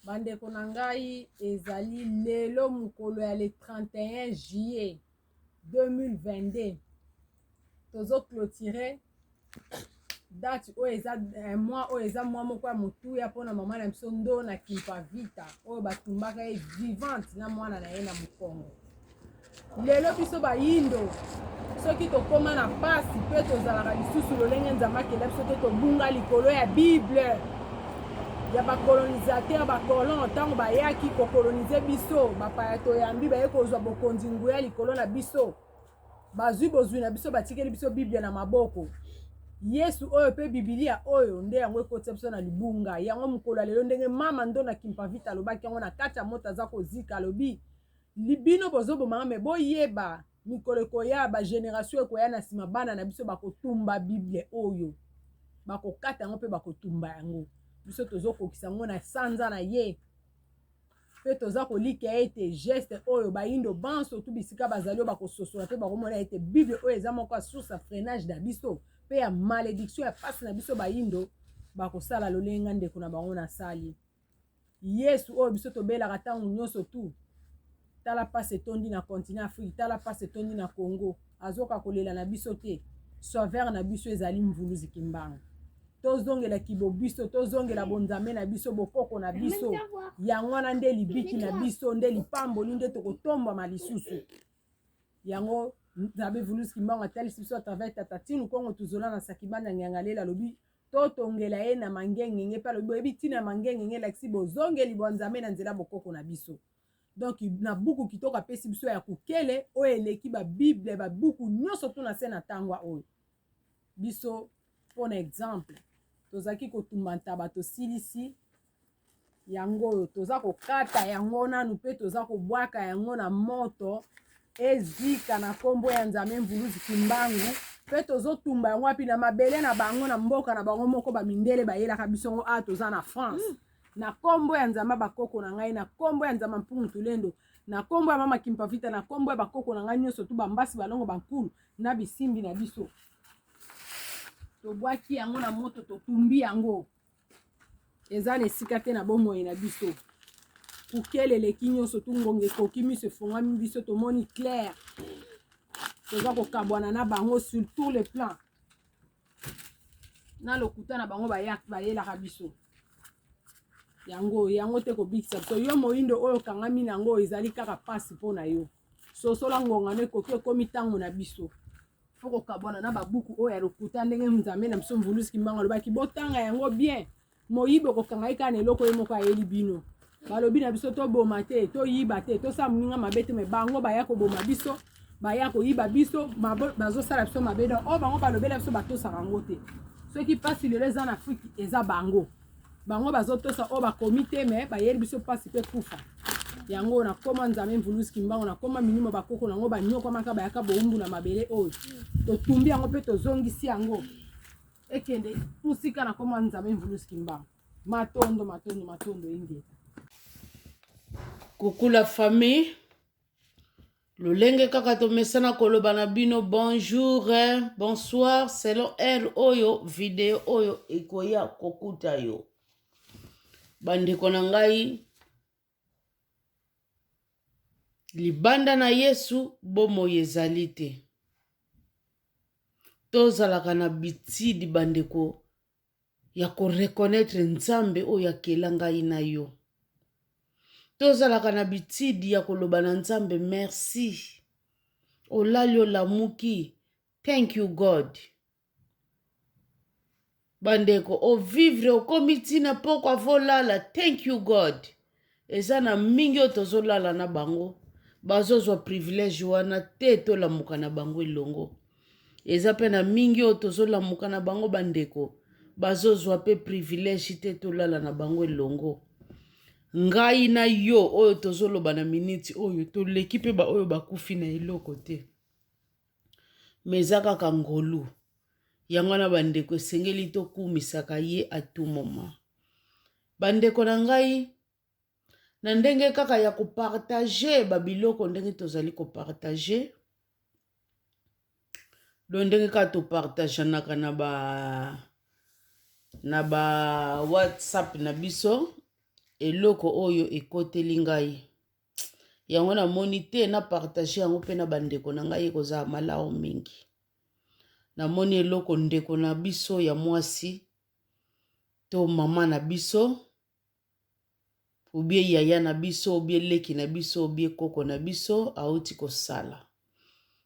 bandeko na ngai ezali lelo mokolo ya le 31 juillet 2022 tozo clotire date oyo eza eh, mwa oyo eza mwa moko ya motuya mpona mama na biso ndo na kimpavita oyo batumbaka ye vivante na mwana na ye na mokongo Lelo biso bayindo soki tokoma na pasi mpe tozalaka lisusu lolenge Nzambe akela biso te, tobunga likolo ya Bible ya bakolonisateur bakolon ntango bayaki kokolonize biso bapaya toyambi baye kozwa bokonzi nguya likolo na biso bazwi bozwi na biso batikeli biso biblia na maboko yesu oyo mpe bibilia oyo nde yango ekotisa biso na libunga yango mokolo ya lelo ndenge mama ndo na kimpavita alobaki yango na kati ya moto aza kozika alobi Li bino bozo boma nga mais bo yeba mikolo ekoya ba generation ekoya na sima bana na biso bako tumba bible oyo bako kata yango pe bako tumba yango biso tozo kokisa yango na sanza na ye mpe toza kolikia ete geste oyo bayindo banso tu bisika bazali oyo bakososola mpe bakomona ete bible oyo eza moko ya source ya freinage na biso mpe ya malediction ya mpasi na biso bayindo bakosala lolenge nga ndeko na bango nasali Yesu oyo biso tobelaka ntango nyonso tu tala mpasi etondi na continent afrique tala mpasi etondi na congo azoka kolela na biso te sauveur na biso ezali mvuluzi kimbangu tozongela kibobiso tozongela bonzambe na biso bokoko na biso yango wana nde libiki na biso nde lipamboli nde tokotombama lisusu yango nzambe vuluzi kimbangu atalisi biso atravers tatatinu kongo tuzola na sakibanda ngiangalela alobi Totongela ye na mangengenge mpe alobi boyebi ntina ya mangengenge elakisi bozongeli bwa Nzambe na nzela bokoko na biso. Donc na buku kitoko apesi biso ya kukele oyo eleki ba bible ba buku nyonso tuna se na tangwa oyo biso mpo na exemple tozalaki kotumba ntaba tosilisi yango oyo toza kokata yango nanu mpe toza kobwaka yango na moto ezika na nkombo ya nzambe mvuluzi kimbangu mpe tozotumba yango wapi na mabele na bango na mboka na bango moko bamindele bayelaka biso yango awa toza na france mm. na nkombo ya nzambe bakoko na ngai na nkombo ya nzambe mpungu tulendo na nkombo ya mama kimpavita na nkombo ya bakoko na ngai nyonso tu bambasi balongo bankulu na bisimbi na biso tobwaki yango na moto totumbi yango eza na esika te na bomoi na biso kukele eleki nyonso tu ngonga ekoki miso efongami biso tomoni claire toza kokabwana na bango sur tout le plan na lokuta na bango bayelaka biso yango yango te kobikisa biso yo moyindo oyo okangami na yango ezali kaka mpasi mpo na yo sosola ngongano ekoki ekomi ntango na biso faut kokabwana na babuku oyo ya lokuta ndenge nzambe na biso mvuluzi kimbango alobaki botanga yango bien moyibi okokanga ye kaka na eloko ye moko ayeli bino balobi na biso toboma te toyiba te tosala moninga mabe te me bango baya koboma biso baya koyiba biso bazosala biso mabe don oyo bango balobela biso batosaka yango te soki mpasi lelo eza na afrike eza bango bango bazotosa oyo bakomi te me bayeli biso mpasi mpe kufa yango nakoma nzambe mvulusi kimbango nakoma milimo bakoko na yango banyokwamaka bayaka bowumbu na mabele oyo totumbi yango mpe tozongisi yango ekende mosika nakoma nzambe mvulusi kimbango matondo matondo matondo ingeta kokula famille lolenge kaka tomesana koloba na bino bonjour eh, bonsoir selon heure oyo video oyo ekoya kokuta yo bandeko na ngai libanda na yesu bomoi ezali te tozalaka na bitidi bandeko ya ko reconnaitre Nzambe oyo akela ngai na yo. Tozalaka na bitidi ya koloba na Nzambe merci. Olali olamuki, thank you God. Bandeko, ovivre okomi ntina pokwa volala, thank you God. eza na mingi oyo tozolala na bango bazozwa privilège wana te tolamuka na bango elongo eza mpe na mingi oyo tozolamuka na bango bandeko bazozwa mpe privilège te tolala na bango elongo ngai na yo oyo tozoloba na miniti oyo toleki mpe baoyo bakufi na eloko te me eza kaka ngolu yango wana bandeko esengeli tokumisaka ye atumoma Bandeko na ngai, na ndenge kaka ya kopartage babiloko ndenge tozali kopartage do ndenge kaka topartageanaka na ba na ba whatsapp na biso eloko oyo ekoteli ngai yango namoni te na partage yango mpe na bandeko na ngai ekozala malamu mingi namoni eloko ndeko na biso ya mwasi to mama na biso obie yaya na biso obie leki na biso obie koko na biso auti kosala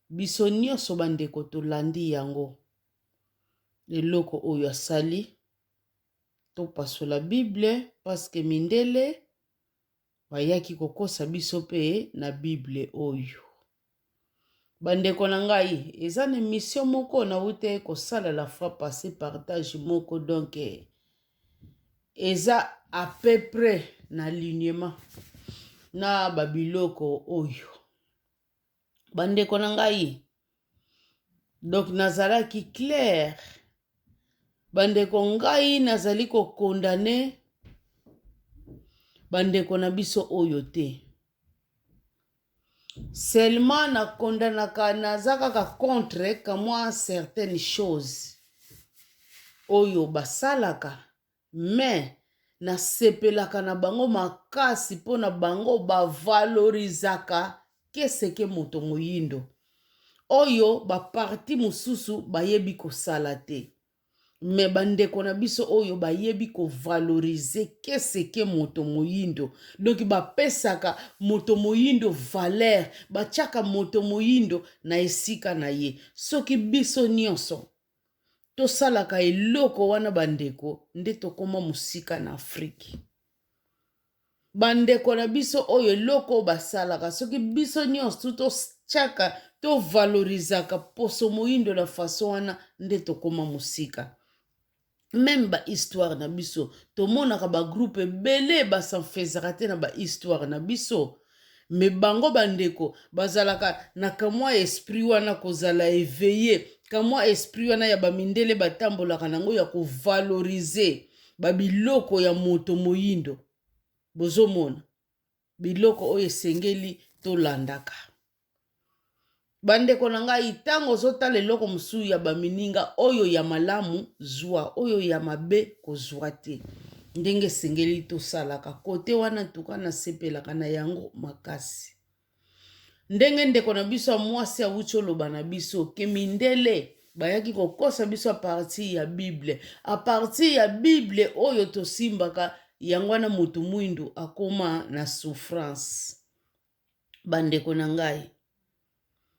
biso nyonso bandeko tolandi yango eloko oyo asali topasola bible paske mindele Bayaki kokosa biso mpe na Bible oyo. Bandeko na ngai, eza na emission moko nawute kosala la fois passe partage moko donc eza à peu près na lignement na babiloko oyo. bandeko na ngai donc nazalaki claire bandeko ngai nazali kokondane bandeko na biso oyo te seulement nakondanaka naza kaka contre kamwa certaines choses oyo basalaka Mais na sepelaka na bango makasi pona bango ba valorizaka que ce que moto moyindo. Oyo ba parti mususu bayebi kosala te. Mais ba ndeko na biso oyo bayebi ko valorise que ce que moto moyindo. Donc ba pesaka moto moyindo valeur, batiaka moto moyindo na esika na ye. Soki biso nionso tosalaka eloko wana ba ndeko nde tokoma musika na Afrique. Ba ndeko na biso oyo eloko basalaka soki biso nionso to chaka to valorisaka poso moyindo na façon wana nde tokoma musika. meme ba histoire na biso tomonaka ba groupe ebele basanfezaka te na ba histoire na biso me bango bandeko bazalaka na kamwa esprit wana kozala eveille kamwa esprit wana ya bamindele batambolaka nango ya kovalorize babiloko ya moto moyindo bozomona biloko oyo esengeli tolandaka bandeko na ngai ntango ozotala eloko mosusu ya bamininga oyo ya malamu zwa oyo ya mabe kozwa te ndenge esengeli tosalaka kote wana ntuka nasepelaka na yango makasi ndenge ndeko na biso ya mwasi awuti oloba na biso ke mindele bayaki kokosa biso apartir ya bible apartir ya bible oyo tosimbaka yango wana motu mwindu akoma na souffrance bandeko na ngai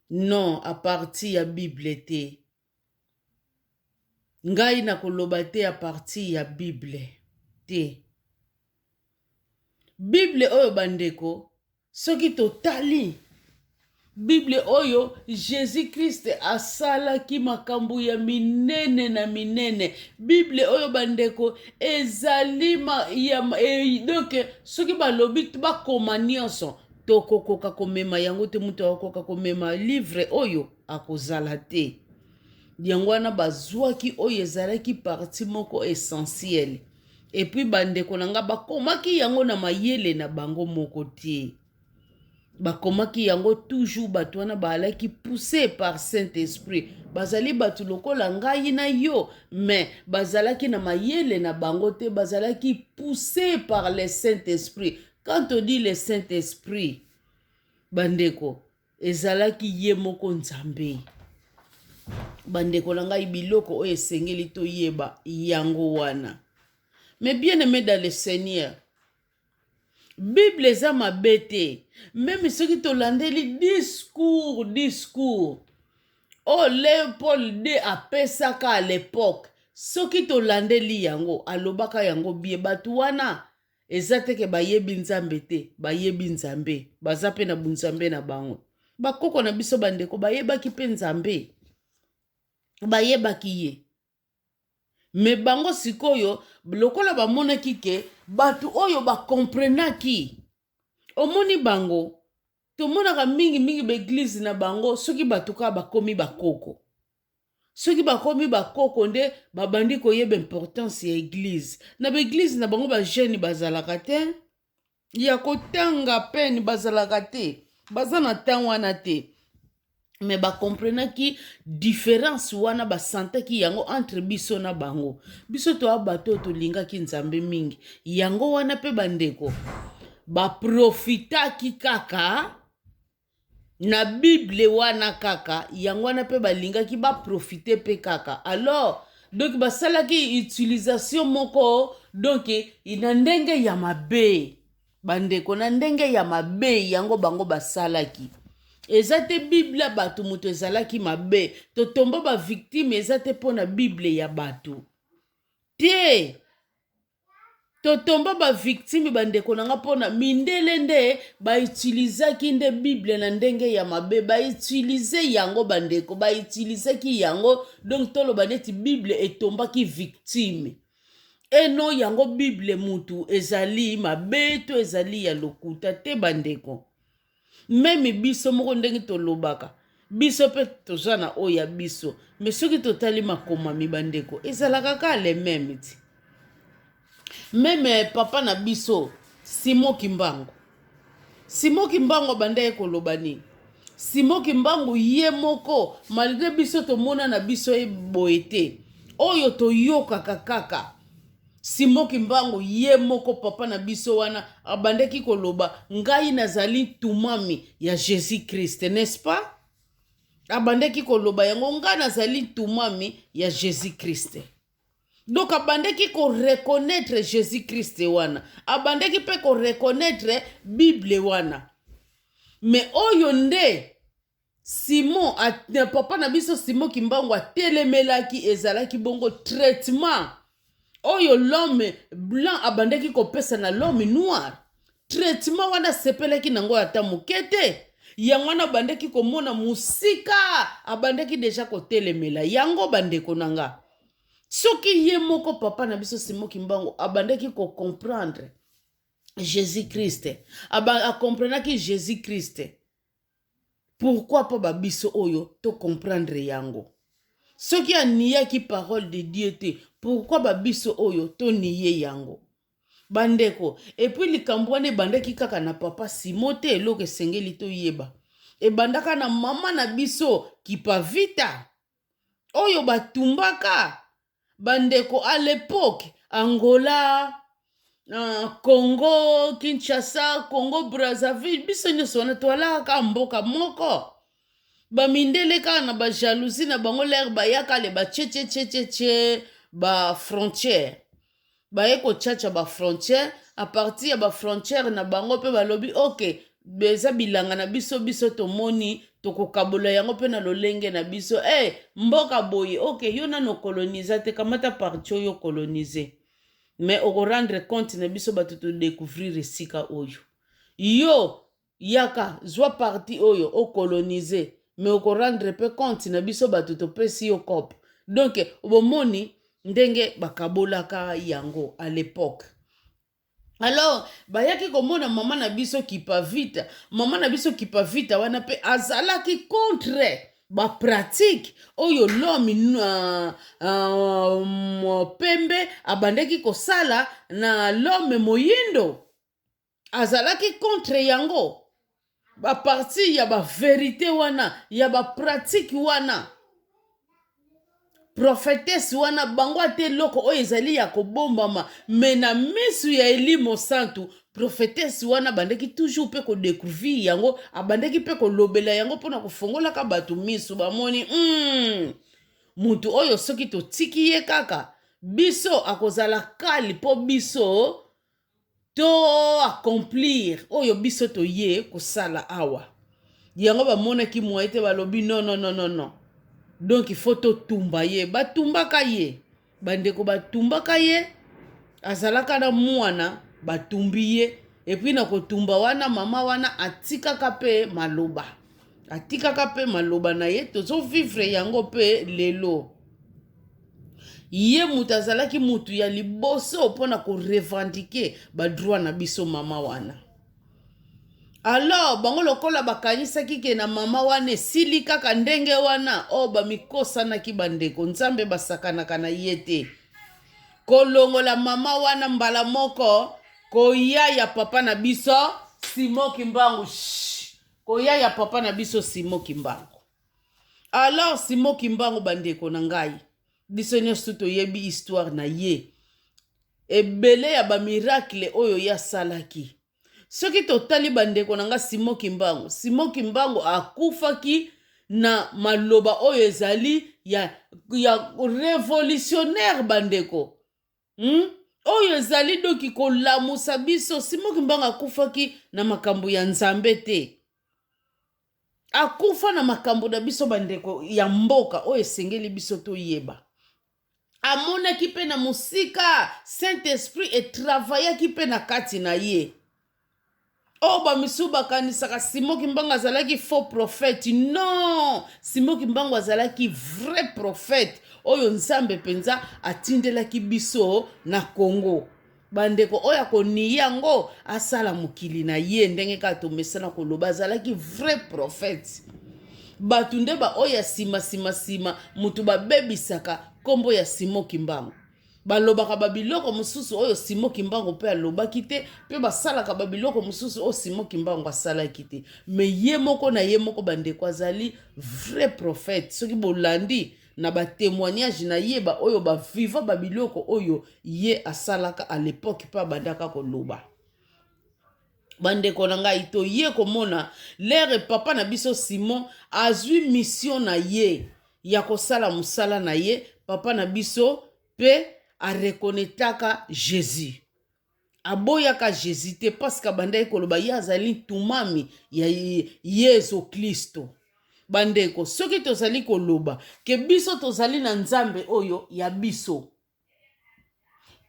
non apartir ya bible te ngai nakoloba te apartir ya bible te bible oyo bandeko soki totali bible oyo jesus krist asalaki makambo ya minene na minene bible oyo bandeko ezali ma, ya, e, donc soki balobi bakoma nyonso tokokoka komema yango te moto akokoka komema livre oyo akozala te yango wana bazwaki oyo ezalaki parti moko essentiele Epuis ba ndeko na nga ba komaki yango na mayele na bango moko te. Ba komaki yango toujours bato wana ba alaki pousse par Saint Esprit. Bazali bato lokola ngai na yo mais bazalaki na mayele na bango te bazalaki pousse par le Saint Esprit. Quand on dit le Saint Esprit ba ndeko ezalaki ye moko nzambe bandeko na ngai biloko oyo esengeli toyeba yango wana me bien aime dans le seigneur bible eza mabe te meme soki tolandeli discours discours oyo leopold d apesaka à l'époque soki tolandeli yango alobaka yango bie bato wana eza te ke bayebi nzambe te bayebi nzambe baza mpe na bunzambe na bango bakoko na biso bandeko bayebaki mpe nzambe bayebaki ye me bango sikoyo lokola bamonaki ke bato oyo bakomprenaki omoni bango tomonaka mingimingi baeglize na bango soki bato kaka bakomi bakoko soki bakomi bakoko nde babandi koyeba importance ya eglize na baeglize na bango bajeune bazalaka te ya kotanga pene bazalaka te baza na temps wana te me bakomprenaki diference wana basantaki yango entre biso na bango biso toya bato oyo tolingaki nzambe mingi yango wana mpe bandeko baprofitaki kaka na bible wana kaka yango wana mpe balingaki baprofite mpe kaka alors donc basalaki utilisation moko donc na ndenge ya mabe bandeko na ndenge ya mabe yango bango basalaki eza te biblia bato moto ezalaki mabe totomba bavictime eza te mpo na biblia ya bato te totomba ba victime bandeko na nga mpona mindele nde ba utilizaki nde bible na ndenge ya mabe ba utilize yango bandeko ba utilizaki yango donc toloba neti bible etombaki victime eno yango bible mutu ezali mabe to ezali ya lokuta te bandeko meme biso moko ndenge tolobaka biso mpe toza na oyo ya biso me soki totali makomami bandeko ezalaka kaka le meme ti meme eh, papa na biso simo kimbangu simo kimbangu abandaki koloba nini simo kimbangu ye moko malgre biso tomona na biso ye boye te oyo toyokaka kaka Simon Kimbangu ye moko papa na biso wana abandaki koloba ngai nazali ntumami ya Jesus Christ, n'est-ce pas? Abandaki koloba yango ngai nazali ntumami ya Jesus Christ. Donc abandaki ko reconnaître Jesus Christ wana, abandaki pe ko reconnaître Bible wana. Mais oyo nde Simon a, na papa na biso Simon Kimbangu atelemelaki ezalaki bongo traitement oyo l'homme blanc abandaki kopesa na l'homme noir traitement wana asepelaki nango ata moke te yango wana abandaki komona mosika abandaki deja kotelemela yango bandeko na nga soki ye moko papa na biso Simon Kimbangu abandaki kocomprendre Jésus-Christ, akomprenaki Jésus-Christ Pourquoi po ba biso oyo to comprendre yango. Soki aniyaki parole de Dieu te pourquoi ba biso oyo to niye yango. Ba ndeko et puis likambo wana ebandaki kaka na papa Simon te eloko esengeli to yeba ebandaka na maman na biso Kipavita. oyo batumbaka bandeko à l'epoque angola uh, congo kinshasa congo brazzaville biso nyonso wana toalaka kaka mboka moko bamindele kaka na bajalousie na bango lere bayaka le bachechechechece ba frontière baye kochacha ba frontière a partir ya ba frontière na bango mpe balobi oke eza bilanga na biso biso tomoni tokokabola yango mpe na lolenge na biso e hey, mboka boye oke yo nano koloniza te kamata parti oyo kolonize me okorendre compte na biso bato todecouvrir esika oyo yo Yaka zwa partie oyo o colonise mais oko rendre pe compte na biso batu topesi yo coop. Donc bomoni ndenge bakabolaka yango à l'epoque. Alors bayaki komona mama na biso Kipavita, mama na biso Kipavita wana pe azalaki contre ba pratique oyo l'homme uh, uh, pembe abandaki kosala na l'homme moyindo azalaki contre yango baparti ya baverite wana ya bapratike wana profetese wana bango ata eloko oyo ezali ya kobombama me na misu ya elimo santu profetese wana abandaki toujours mpe kodecouvrir yango abandaki mpe kolobela yango mpona kofongolaka bato misu bamoni mm, moto oyo soki totiki ye kaka biso akozala kali mpo biso to accomplir oyo biso toye kosala awa yango bamonaki moye te balobi nonononono donk ifo totumba ye batumbaka ye bandeko batumbaka ye azalaka na mwana batumbi ye epui na kotumba wana mama wana atikaka mpe maloba atikaka mpe maloba na ye tozovivre yango mpe lelo ye moto azalaki moto ya liboso mpo na korevendike badroit na biso mama wana alors bango lokola bakanisaki ke na mama wana esili kaka ndenge wana o oh, bamikosanaki bandeko nzambe basakanaka na ye te kolongola mama wana mbala moko koya ya papa na biso simo kimbangu koya ya papa na biso simo kimbangu Alors Simon Kimbangu bandeko na ngai, biso nyonso toyebi histoire na ye. Ebele ya ba miracle oyo ye asalaki. Soki totali bandeko na ngai Simon Kimbangu, Simon Kimbangu akufaki na maloba oyo ezali ya, ya revolutionnaire bandeko. hmm? oyo ezali doki kolamusa biso simoki mbanga akufaki na makambo ya nzambe te akufa na makambo na biso bandeko ya mboka oyo esengeli biso toyeba amonaki mpe na mosika saint esprit etravayaki mpe na kati na ye oyo bamisusu bakanisaka simon kimbangu azalaki faux prophète non simon kimbangu azalaki vrai prophète oyo nzambe mpenza atindelaki biso na congo bandeko oyo akoniyi yango asala mokili na ye ndenge kaka tomesana koloba azalaki vrai prophète bato nde baoyo ya nsima nsima nsima moto babebisaka nkombo ya simon kimbangu Balobaka babiloko mosusu oyo Simon Kimbangu mpe alobaki te, mpe basalaka babiloko mosusu oyo Simon Kimbangu asalaki te. Me ye moko na ye moko bandeko azali vrai prophète. Soki bolandi na ba temoignage na ye ba oyo ba viva babiloko oyo ye asalaka à l'epoque mpe abandaka koloba. bandeko na ngai toye komona lere papa na biso simon azwi misio na ye ya kosala mosala na ye papa na biso mpe arekonetaka jesus aboyaka jesus te paske abandaki koloba ye azali ntumami ya yesu klisto bandeko soki tozali koloba ke biso tozali na nzambe oyo ya biso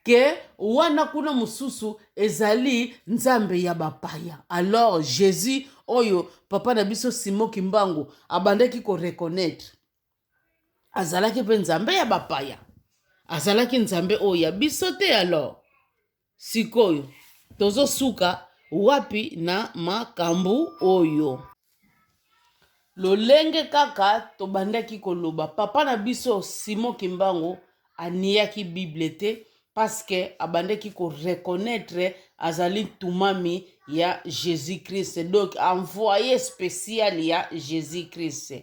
que wana kuna mosusu ezali nzambe ya bapaya. Alors Jesus oyo papa na biso Simon Kimbangu abandaki ko reconnaître azalaki mpe nzambe ya bapaya, azalaki nzambe oyo ya biso te alors Sikoyo tozo suka wapi na makambu oyo? Lolenge kaka tobandaki koloba papa na biso Simon Kimbangu aniyaki Bible te parce que abandaki ko reconnaître azali tumami ya Jésus-Christ donc envoyé spécial ya Jésus-Christ.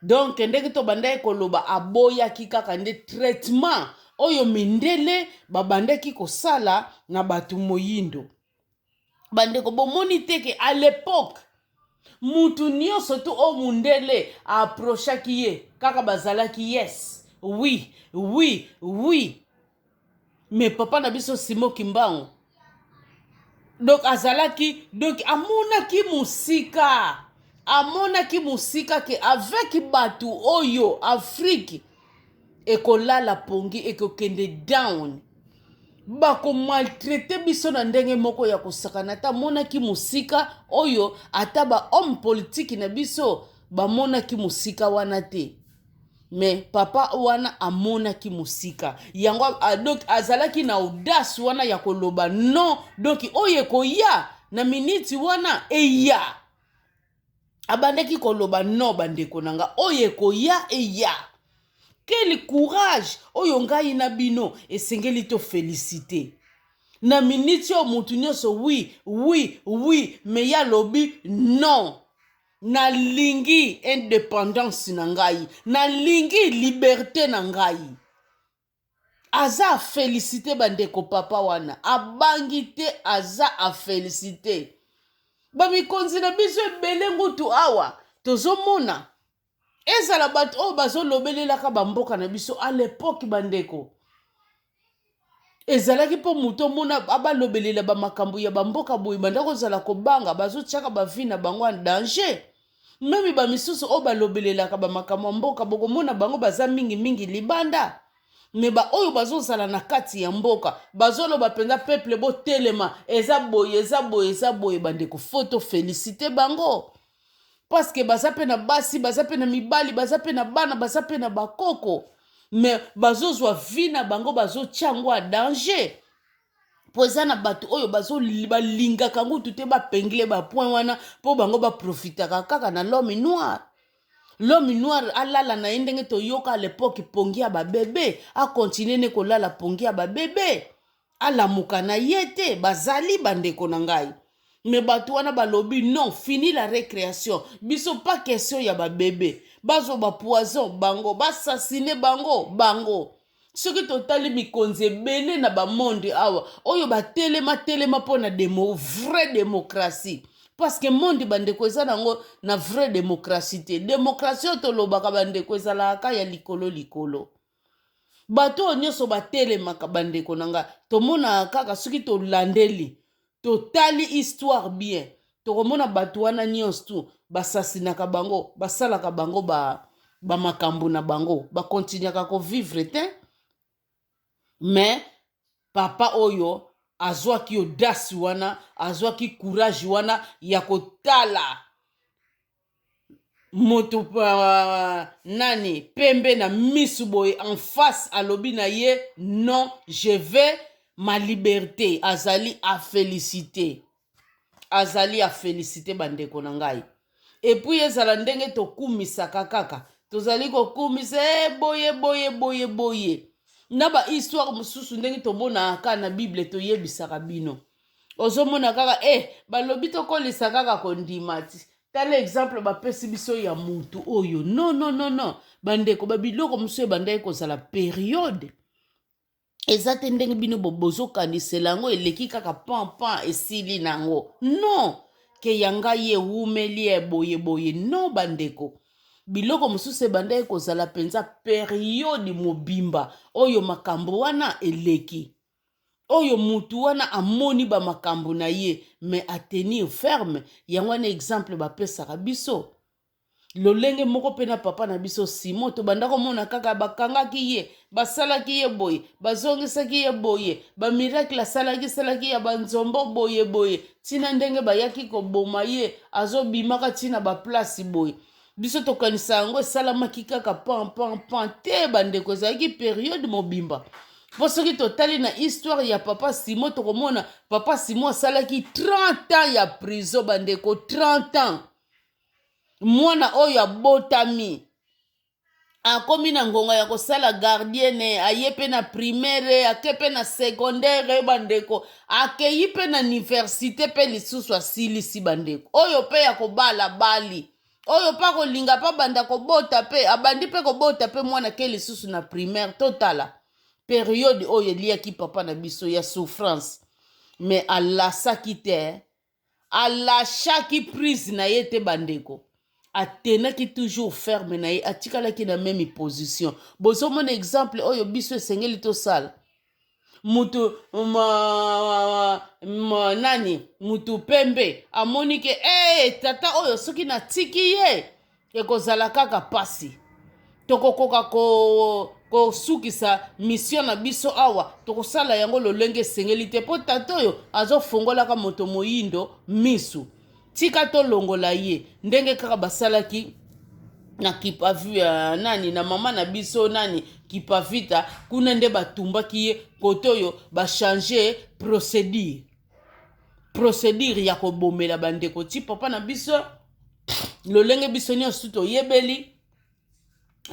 donc ndenge tobandaki koloba aboyaki kaka nde traitement oyo mindele babandaki kosala na bato moyindo bandeko bomoni te ke à l'époque mutu nyonso tu oyo mundele aprochaki ye kaka bazalaki yes oui oui oui mais papa na biso simo kimbangu donc azalaki donc amonaki mosika amonaki mosika ke avec bato oyo afrike ekolala pongi ekokende down bakomaltraite biso na ndenge moko ya kosakana ata amonaki mosika oyo ata bahomme politike na biso bamonaki mosika wana te mais papa wana amonaki mosika yango a- a- donc azalaki na audace wana ya koloba non donc oyo ekoya na miniti wana eya abandaki koloba non bandeko na nga oyo ekoya eya quel courage oyo ngai na bino esengeli tofelisite na miniti oyo moto nyonso wi wi wi me ye alobi non nalingi independance na ngai nalingi liberte na ngai aza afelisite bandeko papa wana abangi te aza afelisite bamikonzi na biso ebele ngutu awa tozomona ezala bato oyo bazolobelelaka bamboka na biso a lepoke bandeko ezalaki mpo moto omona abalobelela bamakambo ya bamboka boye banda kozala kobanga bazotiaka bavi na bango ya danger meme bamisusu oyo balobelelaka bamakambo ya mboka bokomona bango baza mingimingi libanda me baoyo bazozala na kati ya mboka bazoloba mpenza peple botelema eza boye eza boye eza boye bandeko foto felisite bango paske baza mpe na basi baza mpe na mibali baza mpe na bana baza mpe na bakoko me bazozwa vi na bango bazotya yango ya danger mpo eza na bato oyo balingaka yango kutu te bapengle bapoint wana mpo bango baprofitaka kaka na l'homme noir l'homme noir alala na ye ndenge toyoka alepoke pongi ya babebe akontinue ne kolala pongi ya babebe alamuka na ye te bazali bandeko na ngai me bato wana balobi non fini la recreation biso pa question ya babebe bazwa bapoison bango basasine bango bango soki totali mikonzi ebele na bamonde awa oyo batelema telema mpo na demo vraie demokratie parceke monde bandeko eza nango na vraie demokratie te demokratie oyo tolobaka bandeko ezalaka ya likolo likolo bato oyo nyonso batelemaka bandeko na ngai tomonaka kaka soki tolandeli totali histoire bien tokomona bato wana nyonso tu basasinaka bango basalaka bango ba, ba makambo na bango bakontinuaka kovivre te me papa oyo azwaki odasi wana azwaki courage wana ya kotala moto uh, nani pembe na misu boye en face alobi na ye non je vais ma liberté azali afélicité azali afélicité bandeko na ngai epuis ezala ndenge tokumisaka kaka tozali kokumisa e eh, boye boye boye boye na bahistoire mosusu ndenge tomonaka na bible toyebisaka bino ozomona kaka e eh, balobi tokolisa kaka kondima ti tala exemple bapesi biso ya mutu oyo no no no no bandeko babiloko mosusu ebandaki kozala periode eza te ndenge bino bozokanisela yango eleki kaka pampan esili na yango non ke ya ngai ewumeli ya boye boye non bandeko biloko mosusu ebandaki kozala mpenza periode mobimba oyo makambo wana eleki oyo mutu wana amoni ba makambo na ye mais a tenir ferme yango wana exemple bapesaka biso lolenge moko mpe na papa na biso simo tobanda komona kaka bakangaki ye basalaki ye boye bazongisaki ye boye bamiracle asalaki salaki ya banzombo boye boye ntina ndenge bayaki koboma ye azobimaka ntina baplace boye biso tokanisa yango esalamaki kaka pan pan pan te bandeko ezalaki periode mobimba mpo soki totali na histoire ya papa simo tokomona papa simo asalaki 30 ans ya prison bandeko 30 ans mwana oyo abotami akomi na ngonga ya kosala gardiene aye mpe na primaire ake mpe na secondaire bandeko akeyi mpe na universite mpe lisusu asilisi bandeko oyo mpe ya kobala bali oyo mpe akolinga mpe abanda kobota mpe abandi mpe kobota mpe mwana ke lisusu na primaire totala periode oyo eliaki papa na biso ya souffrance me alasaki te alashaki prise na ye te bandeko atenaki toujours ferme na ye atikalaki na meme position bozomona exemple oyo biso esengeli tosala mutu ma, ma, nani mutu pembe amoni ke hey, eh, tata oyo soki natiki ye ekozala kaka mpasi tokokoka ko kosukisa misio na biso awa tokosala yango lolenge esengeli te mpo tata oyo azofungolaka moto moyindo misu tika tolongola ye ndenge kaka basalaki na kipavi ya nani na mama na biso nani kipavita kuna nde batumbaki ye kote oyo bachange procédure procédure ya kobomela bandeko ti papa na biso lolenge biso nyonso toyebeli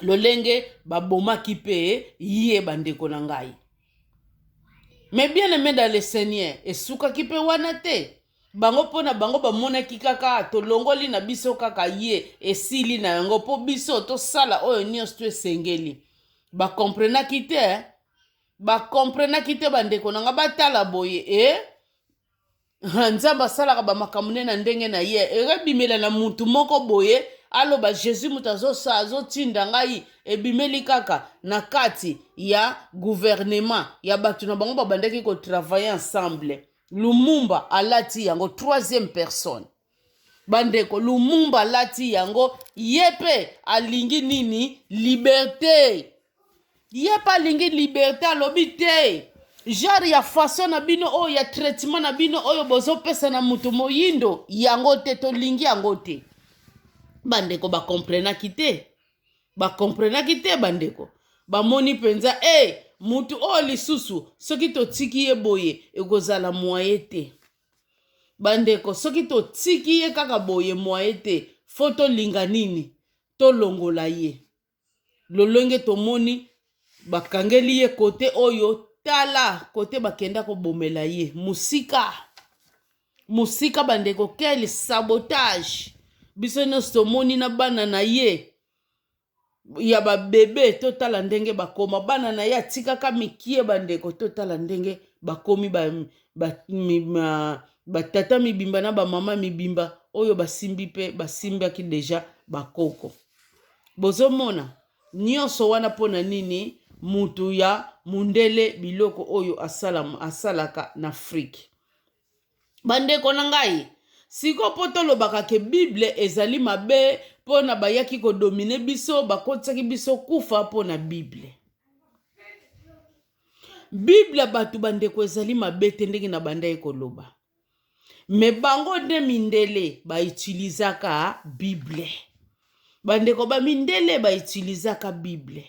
lolenge babomaki mpe ye bandeko na ngai me bien aime dans le seigneur esukaki mpe wana te bango mpo na bango bamonaki kaka tolongoli na biso kaka ye esili na yango mpo biso tosala oyo nyonso to esengeli bakomprenaki te bakomprenaki te bandeko na ngai batala boye e eh? nzambe asalaka bamakambo nde na ndenge na ye ekebimela na mutu moko boye aloba jésus moto azosa azotinda ngai ebimeli kaka na kati ya guvernema ya bato na bango babandaki kotravaille ensemble lumumba alati yango troisième personne bandeko lumumba alati yango ye mpe alingi nini liberte ye mpe alingi liberte alobi te genre ya façon na bino oyo ya traitement na bino oyo bozopesa na moto moyindo yango te tolingi yango te bandeko bakomprenaki te bakomprenaki te bandeko bamoni mpenza e eh, hey, moto oyo lisusu soki totiki ye boye ekozala mwaye te bandeko soki totiki ye kaka boye mwaye te fo tolinga nini tolongola ye lolenge tomoni bakangeli ye kote oyo tala kote bakenda kobomela ye mosika mosika bandeko quel sabotage biso nyonso tomoni na bana na ye ya ba bebe totala ndenge bakoma bana na ye atikaka mikie bandeko totala ndenge bakomi batata ba, ba, mibimba na bamama mibimba oyo basimbi mpe basimbaki deja bakoko bozomona nyonso wana mpo na nini mutu ya mundele biloko oyo asalaka na afrike Bandeko na ngai, siko mpo tolobaka ke Bible ezali mabe mpo na bayaki kodomine biso, bakotisaki biso kufa mpo na Bible. Bible bato bandeko ezali mabe te ndenge na bandaki koloba. Me bango nde mindele baitilizaka Bible. Bandeko ba mindele baitilizaka Bible.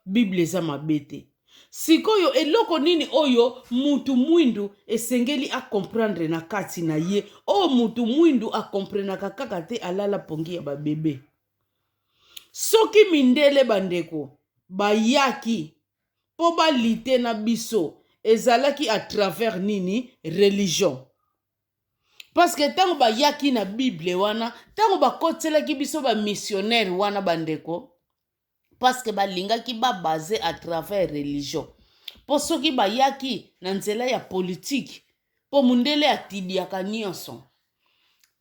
Bible eza mabe te. Sikoyo eloko nini oyo mutu mwindu esengeli a comprendre na kati na ye oyo mutu mwindu a comprenaka kaka te alala pongi ya ba bebe. Soki mindele bandeko bayaki po balite na biso ezalaki à travers nini religion. parceke ntango bayaki na bible wana ntango bakotiselaki biso bamissionnaire wana bandeko parceke balingaki babase à travers religion mpo soki bayaki na nzela ya politike mpo mondele atibiaka nyonso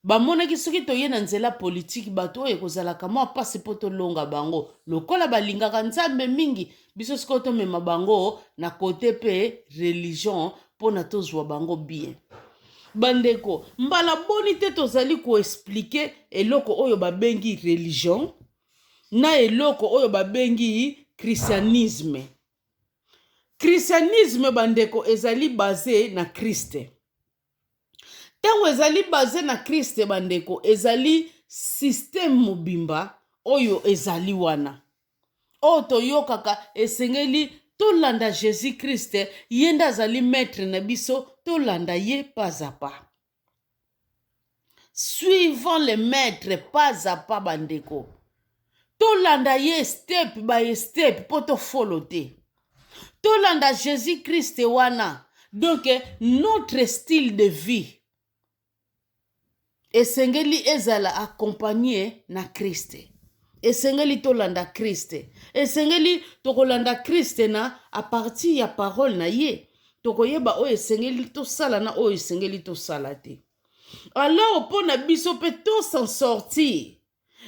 bamonaki soki toye na nzela politike bato oyo ekozalaka mwa mpasi mpo tolonga bango lokola balingaka nzambe mingi biso sikoyo tomema bango na kote mpe religion mpo na tozwa bango bien bandeko mbala boni te tozali koexplike eloko oyo babengi religion na eloko oyo babengi christianisme christianisme bandeko ezali base na kriste Ntango ezali baze na Christ, bandeko, ezali système mobimba oyo ezali wana. Oyo toyokaka esengeli tolanda Jésus Christ, ye nde azali maître na biso, tolanda ye pas à pas. suivant le maître pas à pas bandeko tolanda ye step by step mpo tofolo te tolanda jésus christ wana donc notre style de vie esengeli ezala accompagne na kriste esengeli tolanda kriste esengeli tokolanda kriste na apartir ya parole na ye tokoyeba oyo esengeli tosala na oyo esengeli tosala te Alors mpo na biso mpe to s'en sortir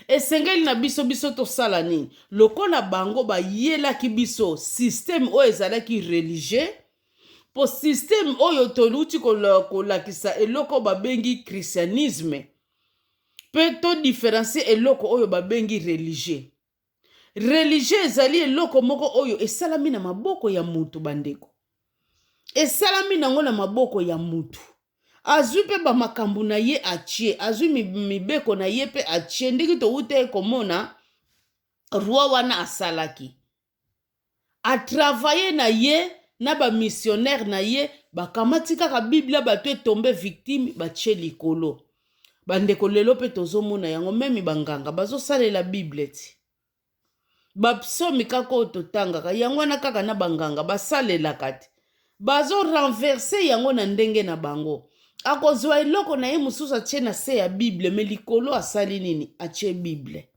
esengeli na biso biso tosala nini lokola bango bayelaki biso systeme oyo ezalaki religieux mpo systeme oyo toluti kolakisa eloko babengi christianisme mpe todifférencie eloko oyo babengi religieux Religion ezali eloko moko oyo esalami na maboko ya mutu bandeko. Esalami nango na maboko ya mutu. Azwi mpe ba makambo na ye atie, azwi mibeko na ye mpe atie ndenge towutaki komona roi wana asalaki. a travailler na ye na ba missionnaire na ye bakamati kaka biblia bato etombe victime batie likolo bandeko lelo mpe tozomona yango meme banganga bazosalela bible ti bapsomi kaka oyo totangaka yango wana kaka na banganga basalelaka te bazorenverse yango na ndenge na bango akozwa eloko na ye mosusu atie na se ya bible me likolo asali nini atie bible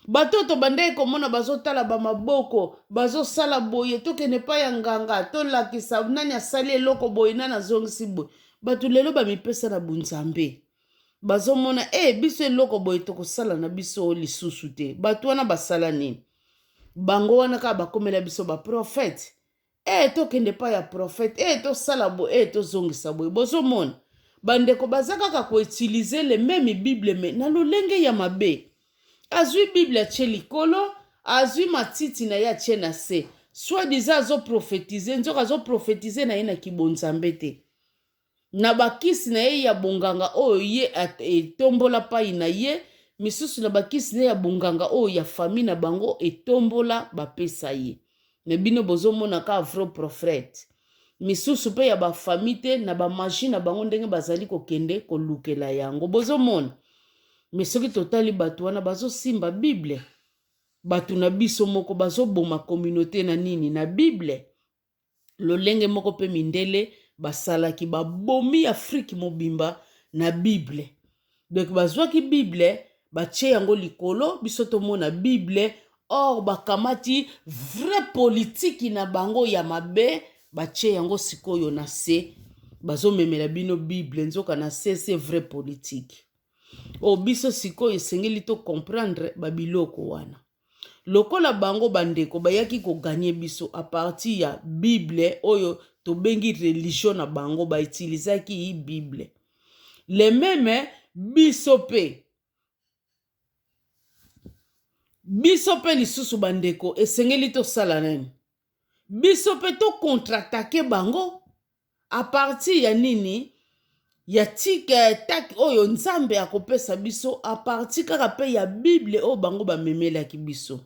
bato oyo tobandaki komona bazotala bamaboko bazosala boye tokende epai ya nganga tolakisa nani asali eloko boye nani azongisi boye bato lelo bamipesa na bonzambe bazomona e hey, biso eloko boye tokosala na biso lisusu te bato wana basala nini bango wana kaka bakomela biso baprofete ee tokende epai ya prophète ee tosala boye ee tozongisa boye bozomona bandeko baza kaka koutilize le meme bible me na lolenge ya mabe azwi bible atie likolo azwi matiti na ye atie na se soit disant azoprofetize nzoka azoprofetize na ye na kibonzambe te na bakisi na ye ya bonganga oyo ye etombola pai na ye, misusu na bakisi na ye ya bonganga oyo ya famille na bango etombola bapesa ye. Mais bino bozomona ka vro profrete. Misusu pe ya ba famille te na ba magie na bango ndenge bazali kokende kolukela yango. Bozomona? Mais soki totali bato wana bazosimba Bible. Bato na biso moko bazoboma communaute na nini? Na Bible. Lolenge moko mpe mindele basalaki babomi Afrique mobimba na Bible. Donc bazwaki Bible batie yango likolo biso tomona Bible or bakamati vrai politiki na bango ya mabe batie yango sikoyo na se bazomemela bino Bible nzoka na se se vrai politiki. O oh, biso sikoyo esengeli to comprendre babiloko wana. Lokola bango ba ndeko bayaki ko gagner biso à partir ya bible oyo tobengi religion na bango ba utilisaki bible le meme biso pe biso pe lisusu ba ndeko esengeli tosala nini biso pe to contre attaquer bango A partir ya nini ya tik eh, tak oyo Nzambe akopesa biso a partir kaka pe ya Bible oyo bango bamemelaki biso.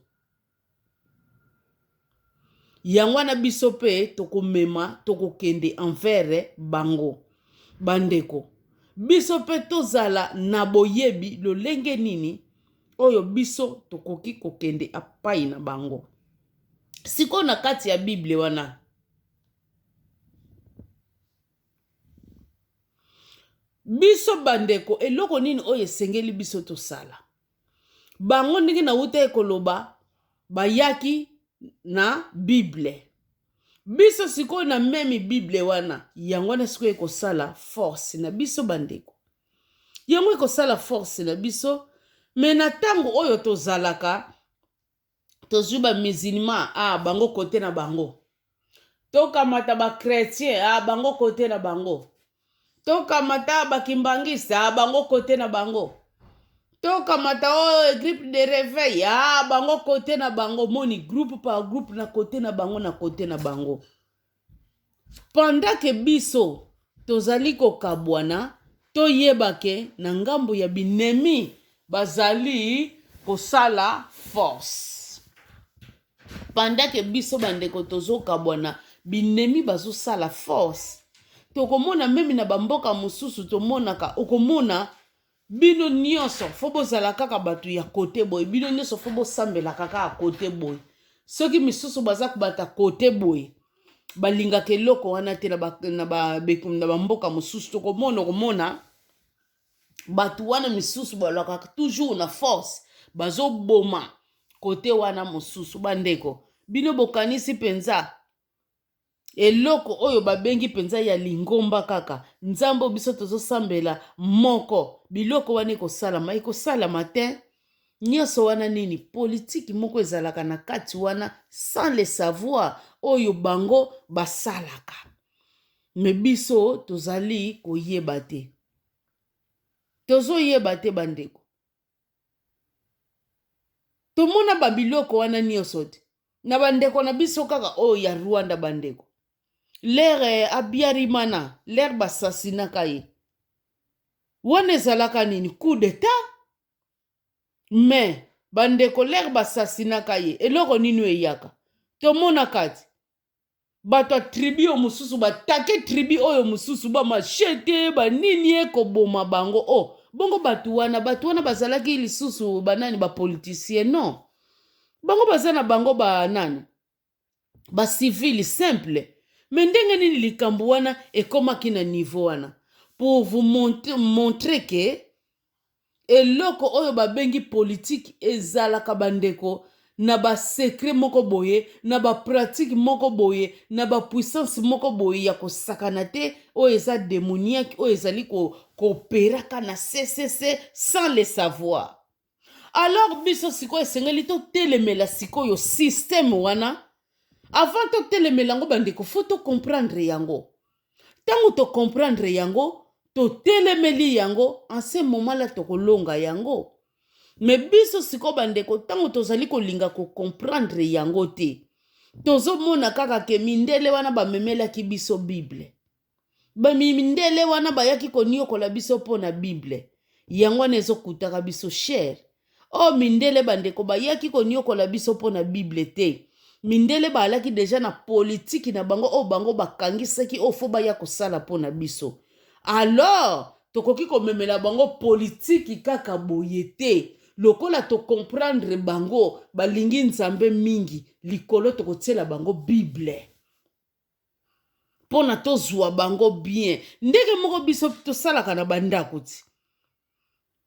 Yango wana biso pe tokomema tokokende envers bango. Bandeko, biso pe tozala na boyebi lolenge nini oyo biso tokoki kokende apai na bango. Sikoyo na kati ya Bible wana biso bandeko eloko nini oyo esengeli biso tosala bango ndenge nautaki koloba bayaki na bible biso sikoyo na memi bible wana yango wana sikoyo ekosala force na biso bandeko yango ekosala force na biso me na ntango oyo tozalaka tozwi ba musulman a ah, bango kote na bango tokamata ba chrétien a ah, bango kote na bango tokamata bakimbangiste a ah, bango kote na bango tokamata oyo oh, gripe de reveil a bango kote na bango moni groupe par groupe na kote na bango na kote na bango Pendant que biso tozali kokabuana toyeba que na ngambo ya binemi bazali kosala force pendant que biso ba ndeko tozokabuana binemi bazosala force tokomona meme na ba mboka mususu tomonaka okomona Bino nionso faut bozala kaka batu ya cote boye bino nionso faut bosambelaka kaka cote boye soki misusu baza kobata cote boye balingaka eloko wana te na bamboka mosusu tokomona okomona bato wana misusu balakaka toujours na force bazoboma kote wana mosusu bandeko bino bokanisi mpenza Eloko oyo ba bengi penza ya lingomba kaka nzambe oyo biso tozo sambela moko biloko wana eko salama eko salama tein nioso wana nini politique moko ezalaka na kati wana sans le savoir oyo bango ba salaka mais biso tozali ko yeba te tozo yeba te ba ndeko tomona ba biloko wana nyonso te na bandeko na biso kaka oyo ya rwanda bandeko lere eh, abiarimana lere basasinaka ye wana ezalaka nini coup d'etat me bandeko lere basasinaka ye eloko nini eyaka tomona kati bato ya tribi oyo mosusu batake tribi oyo mosusu bamashete banini ekoboma bango o oh, bongo bato wana bato wana bazalaki lisusu banani bapolitisien non bango baza na bango banani bacivile simple me ndenge nini likambo wana ekomaki na niveau wana pour vous montrer que eloko oyo babengi politiki ezalaka bandeko na ba secret moko boye na ba pratique moko boye na ba puissance moko boye ya kosakana te oyo eza demoniaque oyo ezali ko koperaka na ccc sans le savoir alors biso sikoyo esengeli totelemela sikoyo systeme wana avant totelemela yango bandeko fo tocomprendre yango Ntango tokomprendre yango, totelemeli yango, en ce moment là tokolonga yango. Me biso sikoyo bandeko, ntango tozali kolinga kokomprendre yango te, tozomona kaka ke mindele wana bamemelaki biso Bible. Bamindele wana bayaki koniokola biso mpo na Bible. Yango wana ezokutaka biso chere. o oh, mindele bandeko bayaki konyokola biso mpo na bible te mindele baalaki deja na politiki na bango oyo bango bakangisaki oyo fo baya kosala mpo na biso alors tokoki komemela bango politiki kaka boye te lokola tokomprendre bango balingi nzambe mingi likolo tokotiela bango bible mpo na tozwa bango bien ndenge moko biso tosalaka na bandako ti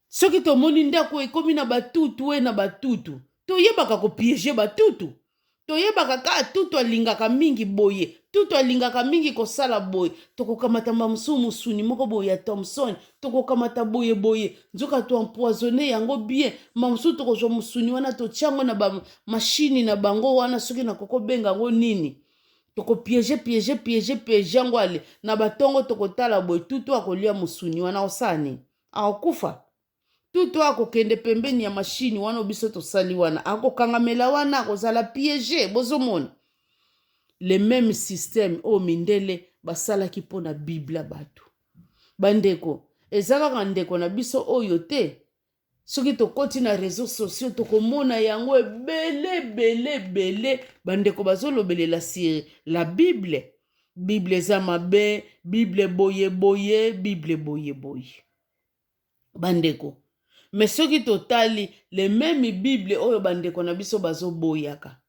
soki tomoni ndako ekomi na batutu e na batutu toyebaka kopiege batutu toyebaka kaka tutu alingaka mingi boye tutu alingaka mingi kosala boye tokokamata bamosusu mosuni moko boye ya thomson tokokamata boye boye nzoka toempoisonne yango bien bamosusu tokozwa mosuni wana totyango na bamashini na bango wana soki nakokobenga yango nini toko piege piege piege piege yango ale na batongo tokotala boye tutu akolia mosuni wana akosala nini akokufa tutu akokende pembeni ya mashini wana biso tosali wana akokangamela wana akozala piege bozomona le meme système oyo mindele basalaki mpo na biblia bato bandeko eza kaka ndeko na biso oyo te soki tokoti na réseau sociaux tokomona yango ebele ebele ebele bandeko bazolobelela sur la bible bible eza mabe bible boye boye bible boye boye bandeko me soki totali le meme bible oyo bandeko na biso bazoboyaka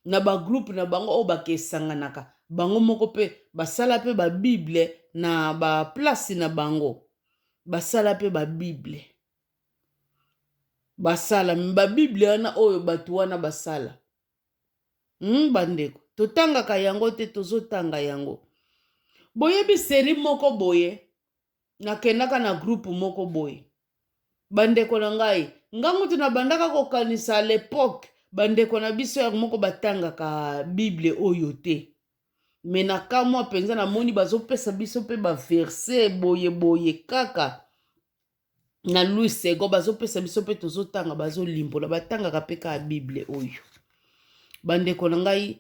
na bagroupe na bango oyo bakesanganaka bango moko mpe basala mpe babible na baplace na bango basala mpe babible basala babible wana oyo bato wana basala hmm, bandeko totangaka yango te tozotanga yango boyebi seri moko boye nakendaka na groupe moko boye bandeko na ngai ngai mutu nabandaka kokanisa à l'époque bandeko na biso ya moko batangaka bible oyo te me na kamwa mpenza namoni bazopesa biso mpe baverse boye boye kaka na louis sego bazopesa biso mpe tozotanga bazolimbola batangaka mpe kaka bible oyo bandeko na ngai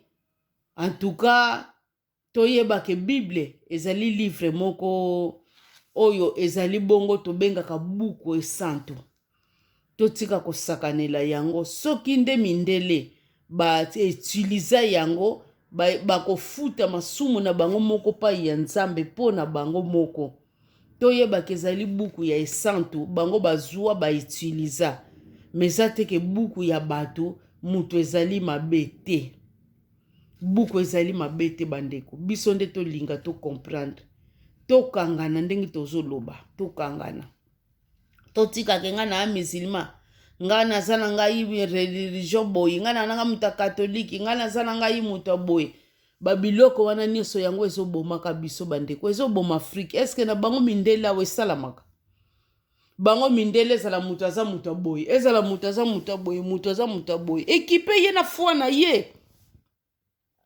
antuka Toyeba ke Bible ezali livre moko oyo ezali bongo tobengaka buku esantu. Totika kosakanela yango. Soki nde mindele ba utiliza yango bakofuta masumu na bango moko pai ya Nzambe mpo na bango moko. Toyebaka ezali buku ya esantu bango bazwa ba utiliza. Mais eza te ke buku ya bato moto ezali mabe te. Buku ezali mabe te bandeko, biso nde tolinga to comprendre, tokangana ndenge tozoloba, tokangana totikake ngai na musulman ngai naza na ngai religion boye ngai na nanga moto ya katolike ngai naza na ngai moto ya boye babiloko wana nyonso yango ezobomaka biso bandeko ezoboma afrike eske na bango mindele awa esalamaka bango mindele ezala moto aza moto ya boye ezala moto aza moto ya boye moto aza moto ya boye ekipe ye na foi na ye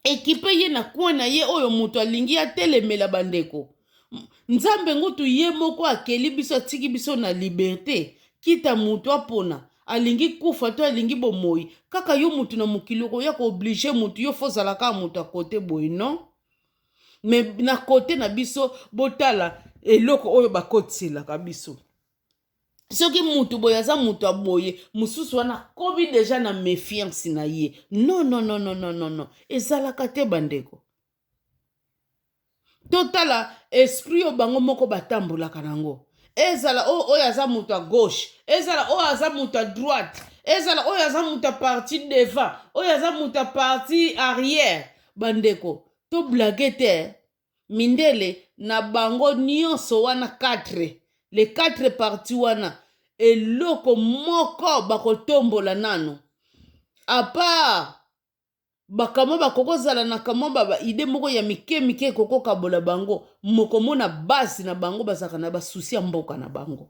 ekipe ye na coin na ye oyo moto alingi atelemela bandeko nzambe ngutu ye moko akeli biso atiki biso na liberte kita moto apona alingi kufa to alingi bomoi kaka yo moto na mokili okoya kooblige moto yo fo ozala kaka moto ya kote boye non mais na kote na biso botala eloko oyo bakotiselaka biso soki mutu boye aza mutu ya boye mosusu wana akomi deja na mefiance na ye non non non non non non non ezalaka te bandeko totala esprit oyo bango moko batambolaka nango ezala oyo oyo aza moto ya gauche ezala oyo aza moto ya droite ezala oyo aza moto ya parti devant oyo aza moto ya parti arrière Bandeko to blague te hein. Mindele na bango nionso wana quatre les quatre partis wana eloko moko bako tombola nanu à part ba kamwa ba koko zala na kamwa ba ba idee moko ya mike mike koko kabola bango moko mona base na bango bazalaka na ba souci ya mboka na bango.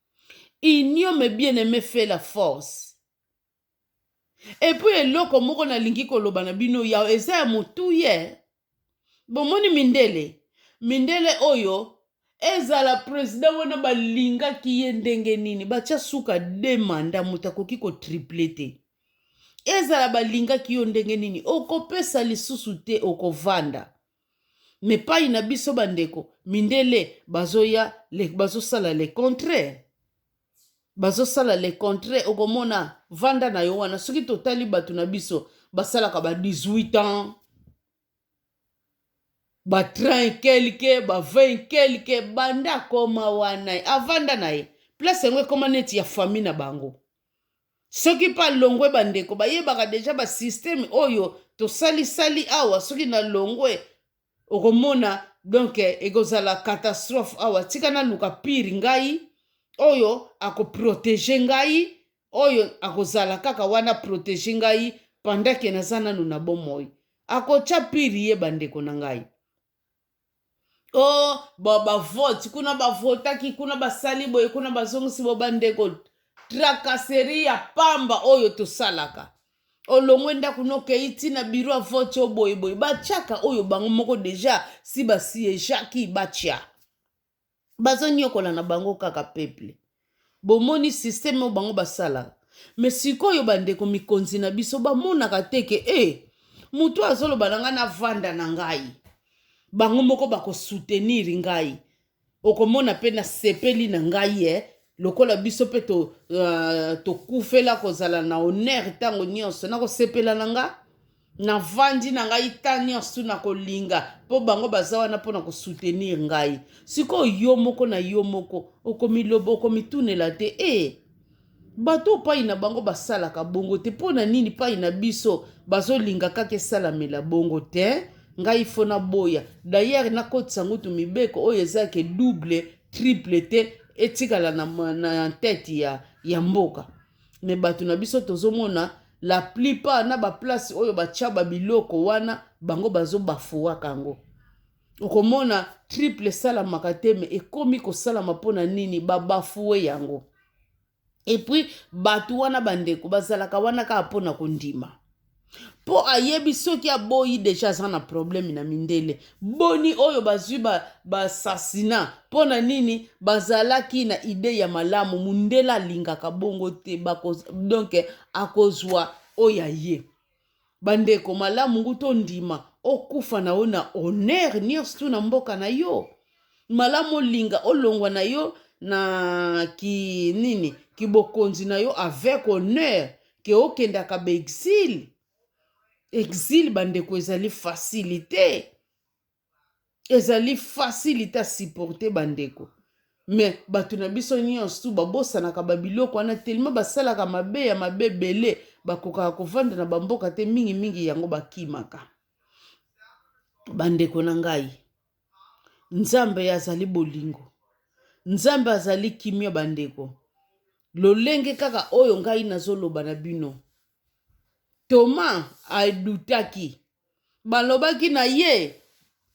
Union me bien aime fait la force. Et puis eloko moko nalingi koloba na bino ya eza ya motuye bomoni mindele mindele oyo ezala president wana balingaki ye ndenge nini batya suka de manda moto akoki kotriple te ezala balingaki yo ndenge nini okopesa lisusu te okovanda me pai na biso bandeko mindele bazoya bazosala le contraire bazosala le contraire okomona vanda na yo wana soki totali bato na biso basalaka ba 18 ans ba 30 kelke ba 20 kelke banda akoma wana avanda na ye place yango ekoma neti ya fami na bango soki mpe alongwe bandeko bayebaka deja basysteme oyo tosalisali awa soki nalongwe okomona donk ekozala catastrophe awa tika naluka pire ngai oyo akoprotege ngai oyo akozala kaka wana protege ngai pendant ke naza nanu na bomoi akotya pire ye bandeko na ngai o oh, bavote kuna bavotaki kuna basali boye kuna bazongisi bo bandeko trakaseri ya pamba oyo tosalaka olongwe ndako nokei ntina biro ya vote oyo boyeboye batyaka oyo bango moko deja si basiyejaki batya bazoniokola na bango kaka peuple bomoni systeme oyo bango basalaka me sikoyo bandeko mikonzi na biso bamonaka te ke e eh, motu azoloba na ngai navanda na ngai bango moko bakosoutenir ngai okomona mpe nasepeli na ngai e eh. lokola biso mpe tokufela to uh, kozala na honere ntango nyonso nakosepela na ngai na vandi na ngai ta nyonso na kolinga mpo bango baza wana mpo na kosoutenir ngai sikoyo yo moko na yo moko okomiloba okomitunela te e eh, bato pai na bango basalaka bongo te mpo na nini pai na biso bazolinga kaka esalamela bongo te ngai fo naboya dayere nakotisa ngutu mibeko oyo eza ke double triple te etikala na, na, na tete ya, ya mboka mais bato na biso tozomona la plupart na baplace oyo batya babiloko wana bango bazobafuwaka yango okomona triple esalamaka te me ekomi kosalama mpo na nini babafuwe yango epuis bato wana bandeko bazalaka wana kaka mpo na kondima Po ayebi soki aboyi dejà aza na problème na mindele boni oyo bazui ba assassinat pona nini bazalaki na idee ya malamu mundele alingaka bongo te bako donc akozua oyo ya ye ba ndeko malamu ngu tondima okufa na yo na honneur nioso tu na mboka na yo malamu olinga olongwa na yo na ki nini kibokonzi na yo avec honneur ke okendaka baexile exile bandeko ezali facilité ezali facilité à supporter bandeko mais bato na biso nyonso babosanaka babiloko wana telema basalaka mabe ya mabe ebele bakokaka kovanda na bamboka te mingimingi yango bakimaka bandeko na ngai Nzambe azali bolingo. Nzambe azali kimia bandeko. Lolenge kaka oyo ngai nazoloba na bino. Toma adutaki. Balobaki na ye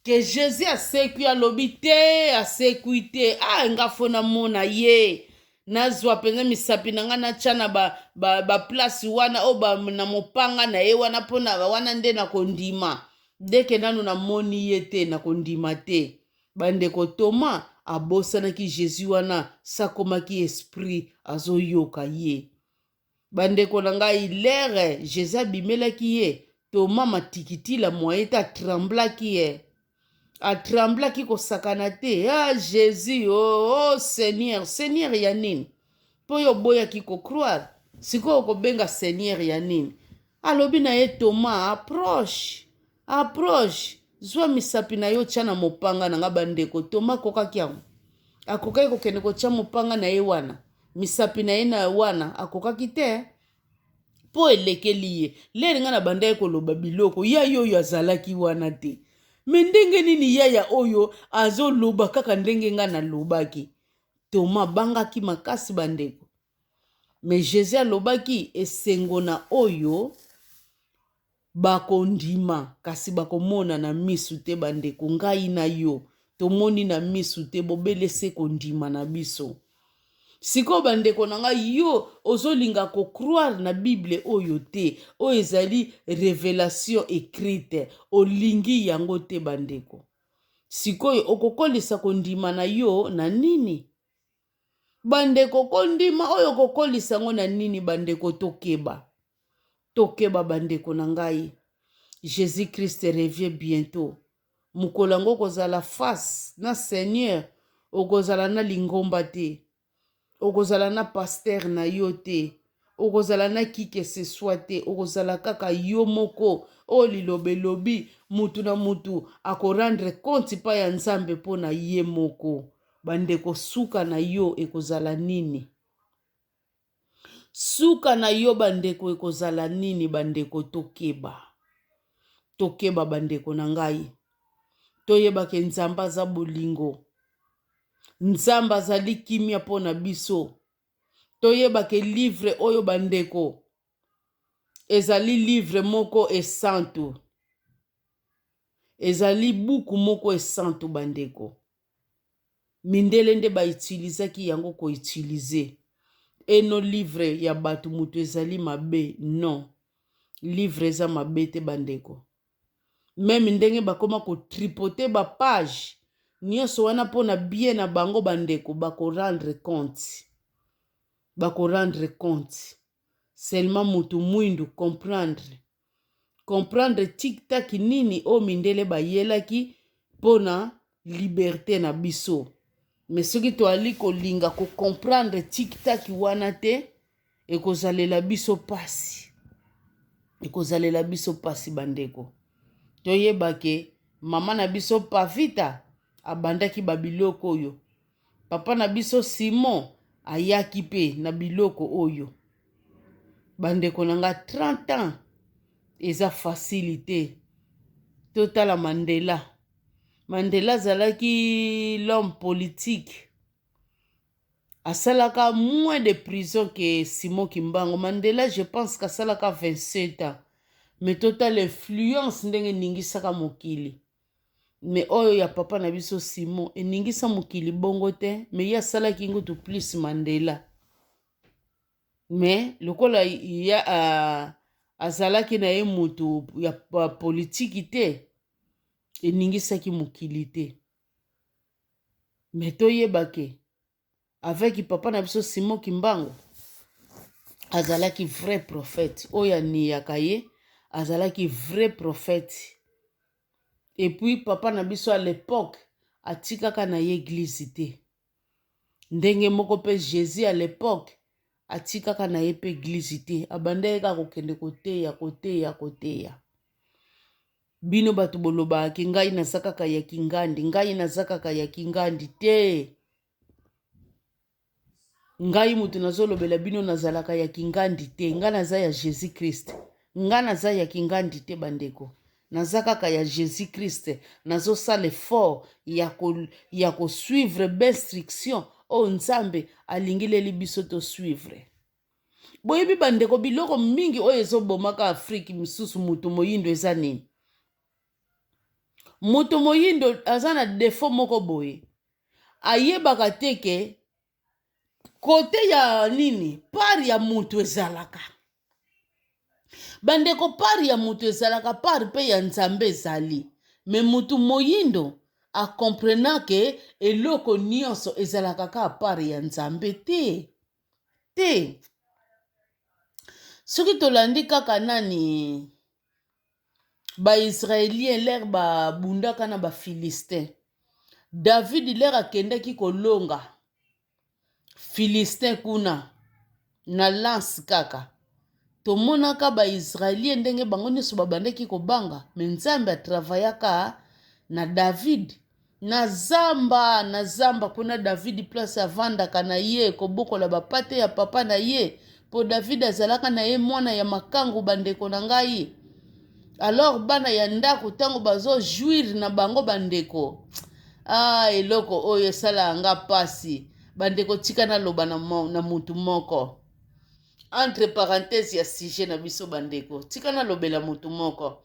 ke Jezi asekwi, alobi te, asekwi te. A, ah, nga fo namona ye. Nazwa mpenza misapi na ngai natya na baplasi ba, ba wana oyo na mopanga na ye wana mpo na wana nde nakondima. Ndeke nanu na moni ye te na kondima te ba ndeko Toma abosanaki Jesus wana sakomaki esprit azo yoka ye ba ndeko na ngai lere Jesus abimelaki ye Toma matikitila moyen te a tremblaki eh a tremblaki kosakana te ah Jesus oh, oh Seigneur Seigneur ya nini mpo yo oboyaki ko croire sikoyo okobenga Seigneur ya nini Alobi na ye, Toma, approche, approche, zwa misapi na yo, tya na mopanga na ngai. Bandeko, Toma akokaki yango? Akokaki kokende kotya mopanga na ye wana, misapi na ye na wana? Akokaki te, mpo elekeli ye. Lere ngai nabandaki koloba biloko, yaya oyo azalaki wana te. Me ndenge nini yaya oyo azoloba kaka ndenge ngai nalobaki? Toma abangaki makasi, bandeko. Mais Jesus alobaki esengo na oyo bakondima kasi bakomona na misu te bandeko ngai na yo tomoni na misu te bobele se kondima na biso sikoyo bandeko na ngai yo ozolinga kocroire na bible oyo te oyo ezali revelation écrite olingi yango te bandeko sikoyo okokolisa kondima na yo na nini Bandeko, kondima oyo kokolisa yango na nini? Bandeko, tokeba, tokeba bandeko na ngai. Jesus Christ revie bientot. Mokolo yango okozala face na Seigneur, okozala na lingomba te, okozala na pasteur na yo te. okozala na qui que ce soit te okozala kaka yo moko oyo liloba elobi mutu na mutu akorendre compte epai ya nzambe mpo na ye moko bandeko suka na yo ekozala nini suka na yo bandeko ekozala nini bandeko tokeba tokeba bandeko na ngai toyebake nzambe aza bolingo nzambe azali kimia mpo na biso toyeba ke livre oyo bandeko ezali livre moko esantu ezali buku moko esantu bandeko mindele nde ba utilizaki yango ko utilize eno livre ya bato moto ezali mabe non livre eza mabe te bandeko meme ndenge bakoma ko tripoter ba pages nionso wana mpo na bien na bango ba ndeko bako rendre compte bako rendre compte seulement mutu muindu comprendre comprendre tik tak nini oyo mindele bayelaki mpo na liberte na biso me soki toali kolinga kocomprendre tik tak wana te ekozalela biso mpasi ekozalela biso mpasi bandeko toyeba ke mama na biso pavita abandaki babiloko oyo papa na biso simon ayaki mpe na biloko oyo bandeko na nga 30 ans eza fasili te totala mandela mandela azalaki l'homme politique Asalaka moins de prison que Simon Kimbangu. Mandela, je pense qu'asalaka 27 ans. Mais total influence ndenge ningisaka mokili. Mais oyo ya papa na biso Simon, eningisa mokili bongo te, mais ye asalaki ngutu plus Mandela. Mais lokola ya uh, azalaki na ye mutu ya politiki te, eningisaki mokili te. Mais toyeba ke avec papa na biso Simon Kimbangu azalaki vrai prophète oyo aniyaka ye azalaki vrai prophète et puis papa na biso à l'époque atikaka na ye église te ndenge moko mpe jesus ya lepoke atikaka na ye mpe eglize te abandaki kaka kokende koteya koteya koteya bino bato bolobaka ke ngai naza kaka ya kingandi ngai naza kaka ya kingandi te ngai moto nazolobela bino nazalaka ya kingandi te ngai naza ya jesus christ ngai naza ya kingandi te bandeko naza kaka ya Jesus Christ nazo sala effort ya ko ya ko suivre b'instruction oyo Nzambe alingileli biso to suivre boyebi bandeko biloko mingi oyo ezobomaka afriki misusu moto moyindo eza nini moto moyindo aza na defo moko boye ayebaka te ke kote ya nini part ya moto ezalaka bandeko part ya moto ezalaka part mpe ya nzambe ezali me moto moyindo akomprena ke eloko nyonso ezalaka kaka part ya nzambe te te soki tolandi kaka nani Ba-Israelien lere babundaka na ba-Philistin, Davidi lere akendaki kolonga Philistin kuna na lance kaka, tomonaka ba-Israelien ndenge bango nyonso babandaki kobanga, me Nzambe atravayaka na Davidi. Na zamba, na zamba, kuna Davidi place avandaka na ye, kobokola bapate ya papa na ye, po Davidi azalaka na ye mwana ya makangu, bandeko na ngai. Alors bana ya ndako tango bazo jouir na bango bandeko, ah eloko oyo esalaka nga pasi bandeko, tika naloba na, na mutu moko. entre parenthèse ya sujet na biso bandeko tika nalobela motu moko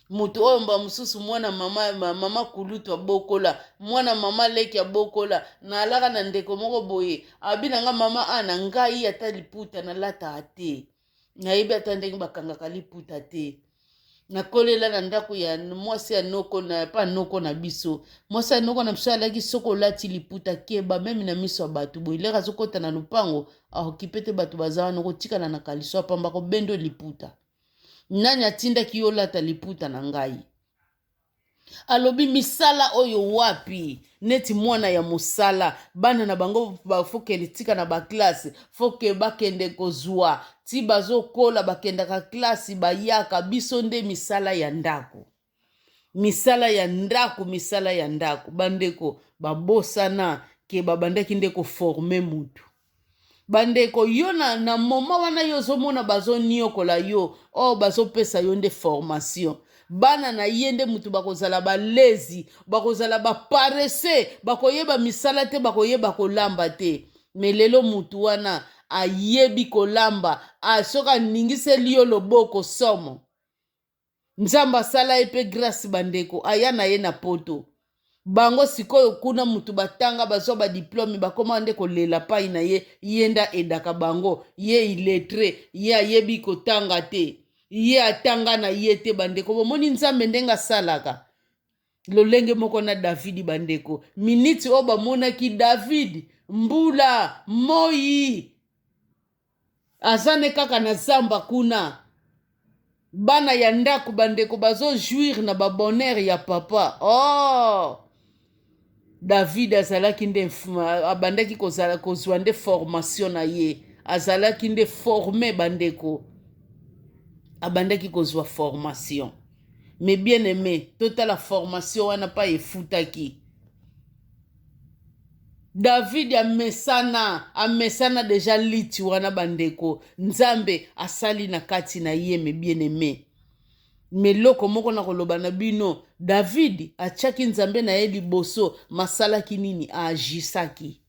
motu oyo mba mosusu mwana mama mama kulutu abokola mwana mama leki abokola nalaka na ndeko moko boye abi na nga mama a na ngai ata liputa nalataka te nayebi ata ndenge bakangaka liputa te nakolela na ndako ya mwasi ya noko na pa noko na biso mwasi ya noko na biso alaki soki olati liputa keba meme na miso ya bato boye leka azokota na lopango aokipe te bato baza wana okotikala na kaliso apamba kobendo liputa nani atindaki yo olata liputa na ngai alobi misala oyo wapi neti mwana ya mosala bana na bango bafokeli tika na baklasse foke bakende kozwa ti bazokola bakendaka klasi bayaka biso nde misala ya ndako misala ya ndako misala ya ndako bandeko babosana ke babandaki nde koforme mutu bandeko yo na, na moma wana yo ozomona bazoniokola yo o oh, bazopesa yo nde formation bana na ye nde moto bakozala balezi bakozala baparese bakoyeba misala te bakoyeba kolamba te me lelo moto wana ayebi kolamba soki aningiseli yo loboko somo nzambe asala ye mpe grace bandeko aya na ye na poto bango sikoyo kuna mutu batanga bazwa badiplome bakoma nde kolela pai na ye ye nde aedaka bango ye iletre ye ayebi kotanga te ye atanga na ye te bandeko bomoni nzambe ndenge asalaka lolenge moko na davidi bandeko miniti oyo bamonaki davidi mbula moi aza ne kaka na zamba kuna bana ya ndako bandeko bazojouire na babonheur ya papa oh! david azalaki nde abandaki kozala kozwa nde formation na ye azalaki nde forme bandeko abandaki kozwa formation mais bien aime totala formation wana pa efutaki davidi amesana amesana deja liti wana bandeko nzambe asali na kati na ye me bien aime me loko moko na koloba na bino davidi atyaki nzambe na ye liboso masalaki nini aajisaki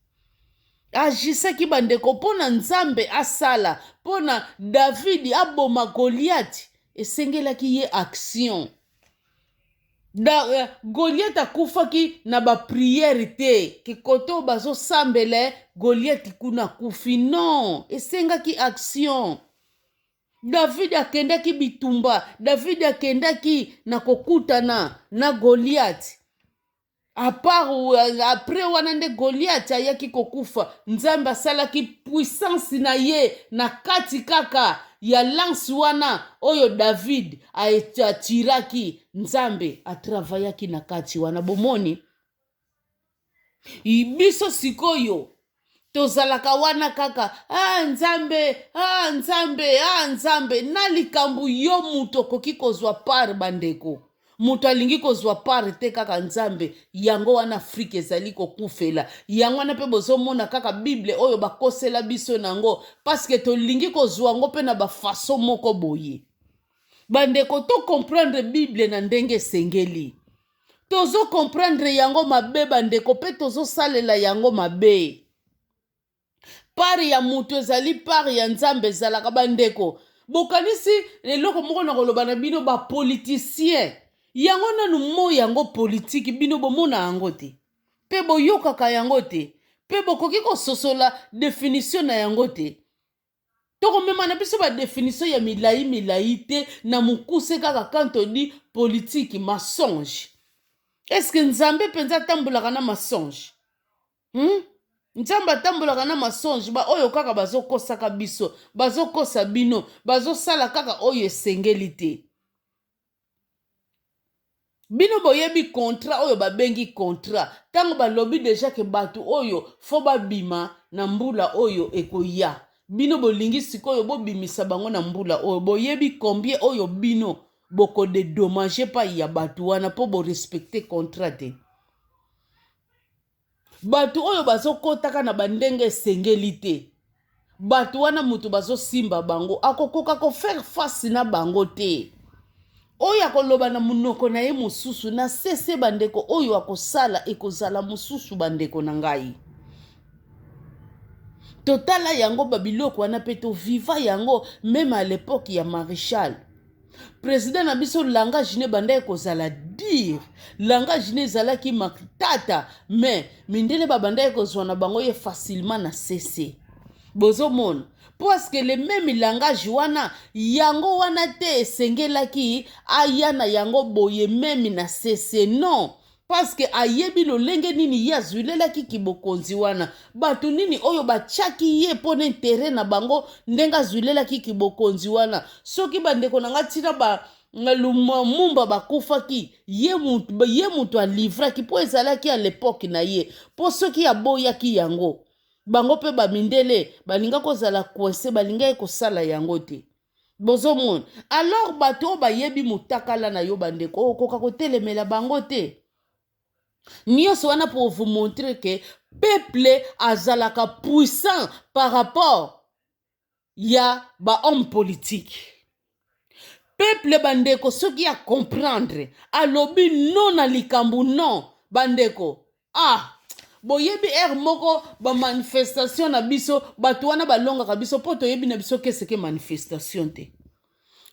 agisaki bandeko mpo na nzambe asala mpo na davidi aboma goliati esengelaki ye action da, uh, eh, goliati akufaki na bapriere te kikote oyo bazosambele goliati kuna akufi non esengaki action davidi akendaki bitumba davidi akendaki na kokutana na goliati apart apres wana nde goliate ayaki kokufa nzambe asalaki puissance na ye na kati kaka ya lance wana oyo david atiraki nzambe atravayaki na kati wana bomoni biso sikoyo tozalaka wana kaka ah, nzambe ah, nzambe ah, nzambe na likambo yo moto okoki kozwa par bandeko moto alingi kozwa pare te kaka nzambe yango wana afrika ezali kokufela yango wana mpe bozomona kaka bible oyo bakosela biso na yango paske tolingi kozwa yango mpe na bafaso moko boye bandeko tokomprendre bible na ndenge esengeli tozo comprendre yango mabe bandeko mpe tozosalela yango mabe pare ya moto ezali pare ya nzambe ezalaka bandeko bokanisi eloko moko na koloba na bino bapolitisien yango nanu mo yango politiki bino bomona yango te mpe boyokaka yango te mpe bokoki kososola definisio na yango te tokomema na biso badefinition ya milai milai te na mokuse kaka kanto di politiki masonge eske nzambe mpenza atambolaka na masonge hmm? nzambe atambolaka na masonge baoyo kaka bazokosaka biso bazokosa bino bazosala kaka oyo esengeli te bino boyebi contrat oyo babengi contrat ntango balobi deja ke bato oyo fo babima na mbula oyo ekoya bino bolingi sikoyo bobimisa bango na mbula oyo boyebi combien oyo bino bokodedomage pai ya bato wana mpo borespecte contrat te bato oyo bazokotaka na bandenge esengeli te bato wana moto bazosimba bango akokoka kofaire face na bango te oyo akoloba na monoko na ye mosusu na sese bandeko oyo akosala ekozala mosusu bandeko na ngai totala yango babiloko wana mpe toviva yango meme a lepoke ya marechal president na biso langage ne bandaki kozala dire langage ne ezalaki matata mais mindele babandaki kozwa na bango ye facilement na sese bozomona parce que le meme langage wana yango wana te esengelaki aya na yango boye meme na sese non Paske ayebi lolenge nini ye azwilelaki kibokonzi wana, bato nini oyo batiaki ye mpo na intere na bango, ndenge azwilelaki kibokonzi wana. Soki bandeko na ngai ntina ba lumumba bakufaki ye moto ye moto alivraki mpo ezalaki ya lepoke na ye mpo soki aboyaki yango bango mpe bamindele balinga kozala coince balingaki kosala yango te bozomona alors bato oyo bayebi motakala na yo bandeko okoka kotelemela bango te nyonso wana pour vous montrer que peuple azalaka puissant par rapport ya bahomme politique peuple bandeko soki ya comprendre alobi non na likambo non bandeko ah boyebi heure moko bamanifestation na biso bato wana balongaka biso mpo toyebi na biso keseke manifestation te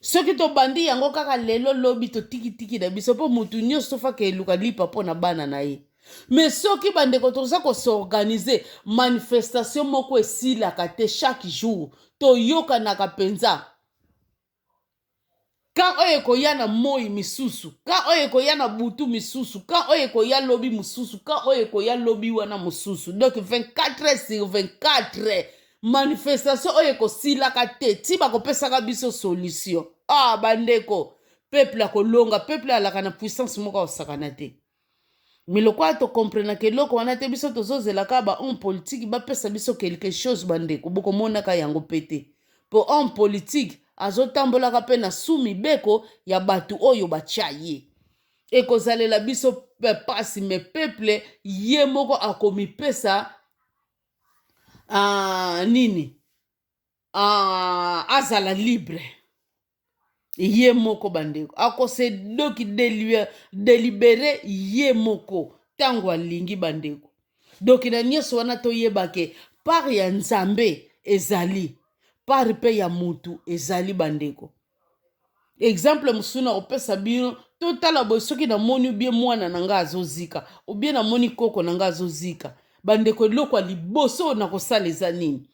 soki tobandi yango kaka lelo lobi totikitiki na biso mpo motu nyonso tofaka eluka lipa mpo na bana na ye me soki bandeko toza kosorganize manifestation moko esilaka te chaque jour toyokanaka mpenza kan oyo ekoya na moi misusu kan oyo ekoya na butu misusu kan oyo ekoya lobi mosusu kan oyo ekoya lobi wana mosusu donc 24 sur 24 manifestation oyo ekosilaka te ti bakopesaka biso solution ah bandeko peuple akolonga peuple alaka na puissance moko akosakana te mais lokola to comprenaka eloko wana te biso tozozela kaka ba homme politique bapesa biso quelque chose bandeko bokomonaka yango mpe te mpo homme politique azotambolaka mpe na su mibeko ya bato oyo batya ye ekozalela biso mpe mpasi me peple ye moko akomipesa uh, nini uh, azala libre ye moko bandeko akose doki delibere ye moko ntango alingi bandeko doki na nyonso wana toyeba ke part ya nzambe ezali part mpe ya motu ezali bandeko exemple mosusu na kopesa bino totala boye soki namoni obie mwana na ngai azozika obie namoni koko na ngai azozika bandeko eloko ya liboso na kosala eza nini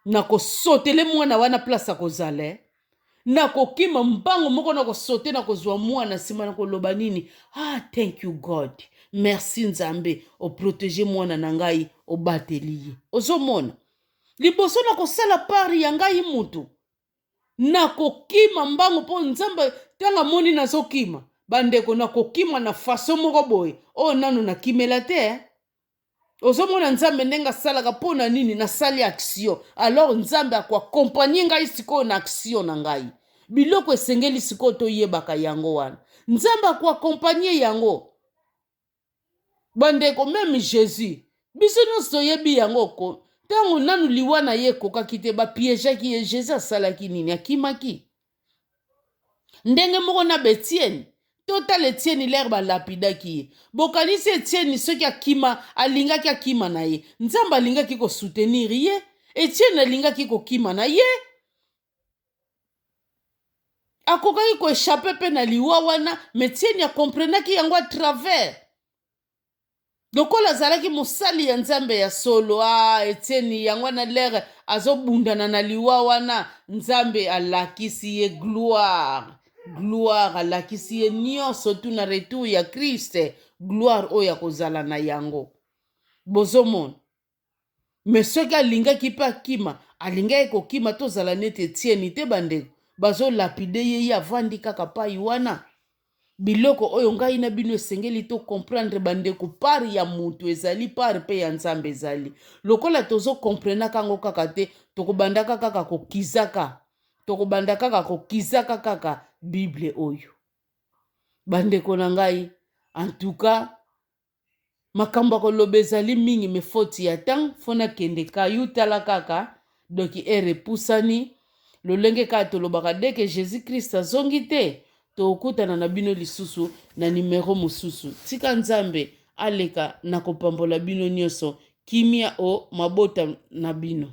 nakosotele mwana wana place akozala eh. nakokima mbango moko nakosote nakozwa mwana nsima nakoloba nini ah thank you god merci nzambe oprotege mwana na ngai obateli ye ozomona liboso nakosala pari ya ngai motu nakokima mbango mpo nzambe ntango amoni nazokima bandeko nakokima na faso moko boye oyo nano nakimela te eh. ozomona nzambe ndenge asalaka mpo na nini nasali action alors nzambe akoakompanye ngai sikoyo na action na ngai biloko esengeli sikoyo toyebaka yango wana nzambe akoakompanye yango bandeko meme jésus biso nyonso toyebi yango ko ntango nanu liwa na ye ekokaki te bapiejaki ye jésus asalaki nini akimaki ndenge moko na betieni totala etieni lere balapidaki ye bokanisi etieni soki akima alingaki akima na ye nzambe alingaki kosoutenir ye etieni alingaki kokima na ye akokaki koechape mpe na liwa wana metieni akomprenaki yango a travers lokola azalaki mosali ya nzambe ya solo a ah, etieni yango wana lere azobundana na liwa wana nzambe alakisi ye gloire gloire alakisi ye nyonso tu na retour ya kriste gloire oyo akozala na yango bozomona me soki alingaki mpe akima alingaki kokima tozala neti etieni te bandeko bazolapide ye ye avandi kaka pai wana biloko oyo ngai na bino esengeli to comprendre bandeko par ya motu ezali par mpe ya nzambe ezali lokola tozo comprenaka yango kaka te tokobandaka kaka kokizaka tokobanda kaka kokizaka kaka bible oyo bandeko na ngai antuka makambo ya koloba ezali mingi me foti ya temps fo nakende ka yo tala kaka doki ere epusani lolenge kaka tolobaka deke jesus christ azongi te tokutana na bino lisusu na nimero mosusu tika nzambe aleka na kopambola bino nyonso kimia o mabota na bino